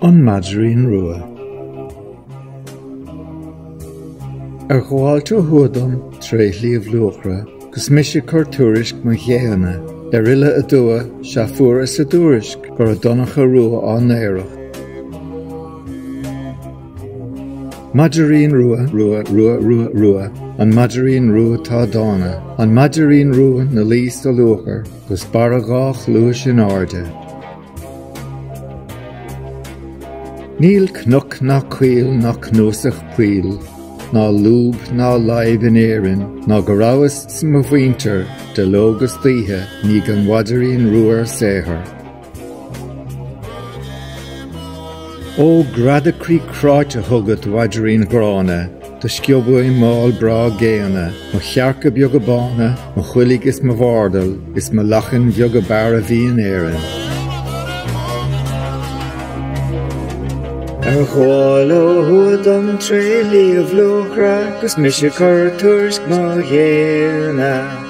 An Maidrín Rua. Ar ghabháil ó thuaidh dom tré Shliabh Luachra 'gus mise cur tuairisc mo ghéanna ar fhilleadh aduaidh sea fuaras a dtuairisc go raibh Donncha Rua á n-aoireacht. Maidrín Rua Rua Rua Rua Rua An Maidrín Rua Tá dána An Maidrín Rua 'na luí sa luachair. Gus barr a dhá chluais in airde. Níl cnoc ná coill ná cnuasach poill ná lúb ná láib in Éirinn ná go rabhas 's mo mhuintir de ló 'gus d'oíche i ndiaidh an mhaidrín rua ar saothar. Ó greadadh croí cráite chugat, mhaidrín ghránna, Do sciob uaim m'ál breá géanna, Mo chearca beaga bána, Mo choiligh is mo bhardal, Is mo lachain bheaga b'fhearr a bhí in Éirinn. Ar ghabháil ó thuaidh dom tré shliabh Luachra, 'Gus mise 'cur tuairisc mo ghéanna.